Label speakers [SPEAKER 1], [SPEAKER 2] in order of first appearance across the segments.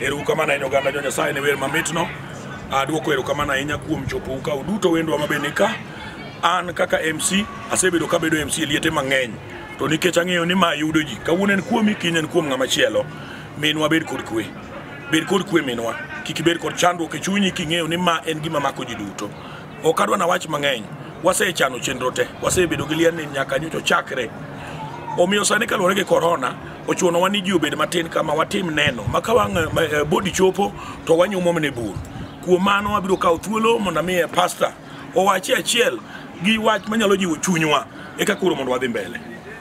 [SPEAKER 1] Erokamano ahinya oganda jo Nyasaye ne wer mamitno. Adwoko erokamano ahinya kuom chopo uka uduto wendwa ma bende ka. An kaka MC asebedo kabedo MC e liete mang'eny to nikech ang'eyo ni ma yudo ji kawuono en kuomi kiny en kuom ng'ama chielo minwa bed kod kwe bed kod kwe minwa kik ibed kod chandruok e chunyi king'eyo ni ma en gima mako ji duto Ok adwa nawach mang'eny, wasechano chenro te, wasebedo gi liel ni nyaka nyocha chakre. Omiyo sani kaluwore gi korona, ochunowa ni ji obed matin kama watim neno ma ka wang' eh, bodi chopo to wanyumo mne bur. Kuom mano abiro kawo thuolo mondo amiye pasta owachi achiel gi wach manyalo jiwo chunywa eka koro mondo wadhi mbele.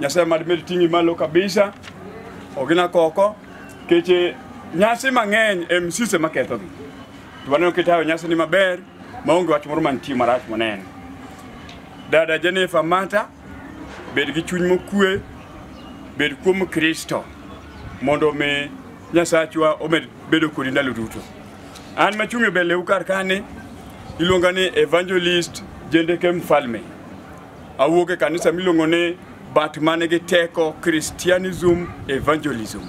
[SPEAKER 2] Nyasaye mad med ting'i malo kabisa. Ogina koko keche nyasi mang'eny em sise maketho gi. To waneno kitayo nyasi ni maber maonge wach moro mantie marach moneno. Dada Jennifer Mata bed gi chuny mokue bed kuom Kristo mondo mi Nyasachwa omed bedo kodi ndalo duto. An machung' e mbeleu kar kani iluonga ni Evangelist Jendeke Mfalme. Awuok e kanisa miluongo ni but man gi teko Christianism Evangelism.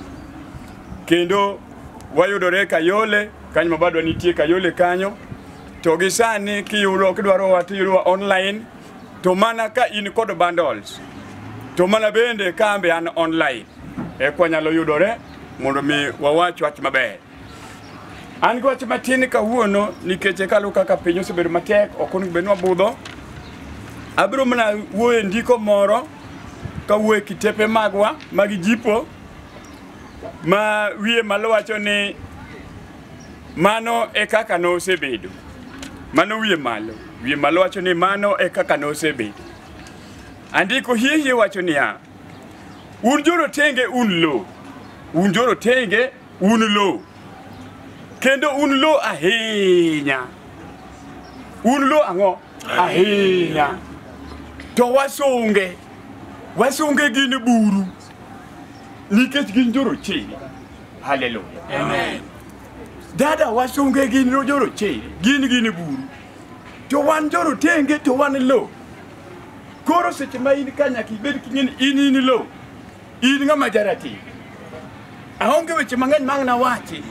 [SPEAKER 2] Kendo wayudore Kayole, kanyo ma badwa nitie Kayole kanyo. To gi sani kiyudo kidwaro wa tiyudo online to mana ka in kod bundles. To mana bende kambe an online. Ekwa nyalo yudore mondo mi wawach wach maber. An gi wach matin kawuono nikech e kalu kaka piny osebedo matek ok onego bed ni wabudho. Abiro mana wuoyo e ndiko moro kawuoyo e kitepe magwa mag jipo ma wiye malo wacho ni mano e kaka nosebedo. Mano wiye malo. Wiye malo wacho ni mano e kaka nosebedo. Andiko hihi wacho niya, un jorotenge un lo, un jorotenge un lo kendo un lo ahinya un lo ang'o ahinya to wasunge wasunge gin buru nikech gin jorochere haleluya Amen.
[SPEAKER 3] dada
[SPEAKER 2] wasunge gin jorochere gin gin buru to wan jorotenge to wan lo koro seche ma in ka nyaka ibed king'eni in in lo in ng'ama jarati aonge weche mang'eny mang' nawachi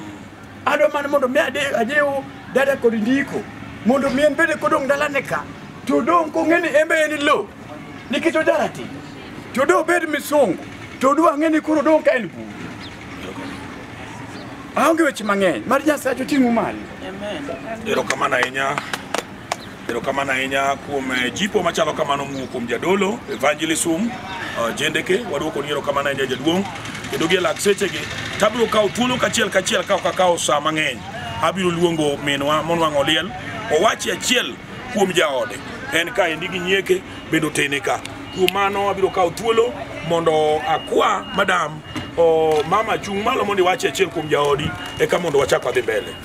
[SPEAKER 2] adwa mana mondo mi ade- ajiw dada kod ndiko mondo mi en bende kodong' dalane ka to odong' kong'e ni en be en lo nikech ojarati to do obed misungu to odwa ng'e ni koro odong' ka en buru aonge weche mang'eny mar nyasaye to ting'u malo
[SPEAKER 3] Erokamano ahinya.
[SPEAKER 1] Erokamano ahinya kuom eh, jipo machalo kamano mowuok kuom jadolo evangelism uh, jendeke waduoko ni erokamano ahinya jaduong' kendo gi e lak sechegi tabiro kawo thuolo kachiel kachiel ka ok akawo saa mang'eny abiro luongo minwa monwang' oliel owachi achiel kuom jaode en ka endi gi nyieke bende otene ka kuom mano abiro kawo thuolo mondo akwa madam o mama chung' malo mondo iwachi achiel kuom jaodi eka mondo wachak wadhi mbele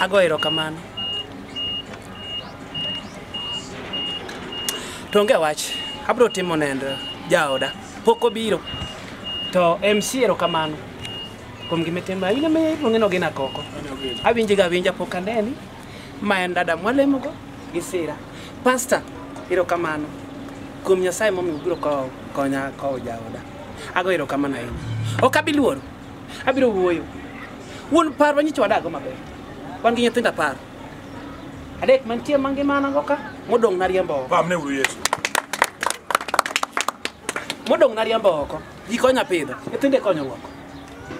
[SPEAKER 3] Ago erokamano. To onge wach, abro timo nend jaoda. Pok obiro. To MC erokamano. Kuom gima itimo, awinjo ma iluonge ni Ogina Koko. Awinje ga awinja pok aneni. Ma en dada mwalemogo gi sira. Pastor, erokamano. Kuom Nyasaye momiyo ubiro ko- konya kowo jaoda. Ago erokamano ahinya. Ok abi luoro. Abiro wuoyo. Wuon par wanyicho wadago maber. Wan gi nyithindo apar. Adek mantie mangima an go ka, modong' nariembo oko. Pamne uru Yesu. Modong' nariembo oko. Ji konya pidho, nyithindo konyo oko.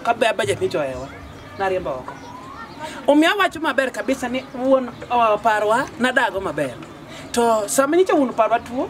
[SPEAKER 3] Ka be budget ni joewa, nariembo oko. Omiyo awacho maber kabisa ni wuon uh, parwa nadago maber. To sama nyicho wuon parwa tuo,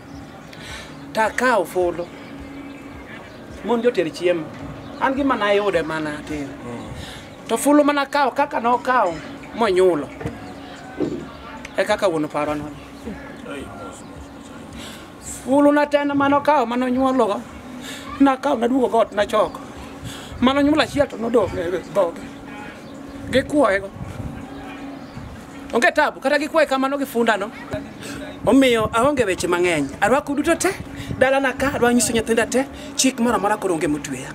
[SPEAKER 3] Ta kawo fulu. Mon joter chiemo. An gima nayude mana atin. To fulu mana kawo kaka nokawo monyulo. E kaka wuon paro no. Fulu na tena mano kawo mano nyuologo. Na kawo na duogo got na choko. Mano nyulo achiel to nodok e dhoge. gikwoyego onge tabu kata gikwaye kamano gi fundano omiyo aonge weche mang'eny arwako duto te dalana ka adwa nyiso nyithinda te chik moro amora koro onge motweya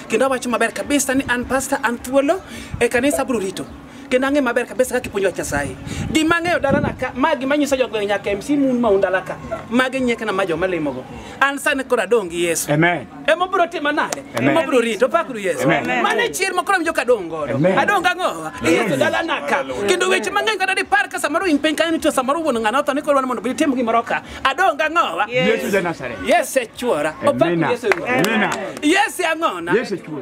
[SPEAKER 3] kendo awacho maber kabisa ni an pasta an thuolo e kanisa abro rito kendo ang'e maber kabisa kaka ipuonjo wach nyasaye gima ang'eyo dalana ka ma gima nyiso jogweng' nyaka mc mun ma un dala ka magi nyiekna ma joma limogo an sani koro adong' gi yesu Amen. ema obiro
[SPEAKER 2] tima nade
[SPEAKER 3] Amen. ema obiro rito pakru yesu Amen. mano e chier ma koro awinjo ka adong' godo Amen. adong' gang'owa e yesu dalana ka kendo weche mang'eny kata dipar ka samoro in piny kanyo nitie samoro wuon ng'ano otho ni koro wan mondo bitim gimoro ka adong' gang'owa Yesu ja Nazareth.
[SPEAKER 2] yes e chuora Amina.
[SPEAKER 3] opakru yesu Amina.
[SPEAKER 2] yes e ang'ona
[SPEAKER 3] Yesu chuo.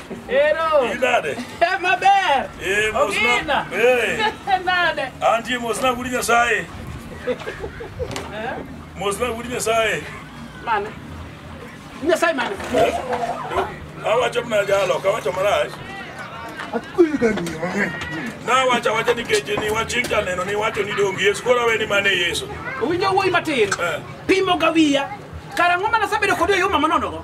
[SPEAKER 1] Ero.
[SPEAKER 3] Inade. Eh,
[SPEAKER 1] maber.
[SPEAKER 3] Eh, mos na- Ogina.
[SPEAKER 1] Eh.
[SPEAKER 3] Nade. Antie mos na
[SPEAKER 1] gudi Nyasaye. Mos na gudi
[SPEAKER 3] Nyasaye.
[SPEAKER 1] Mane. Nyasaye mane. Awacho mna jalo,
[SPEAKER 4] kawacho marach. Nawacho awacha
[SPEAKER 1] nikech ni wachik janeno ni wacho ni dongi Yesu koro awe ni mane Yesu. Owinjo wuoyi matin.
[SPEAKER 3] Pimo ga wiya. Kara ng'o mana sabedo kodi e yo mama nonogo.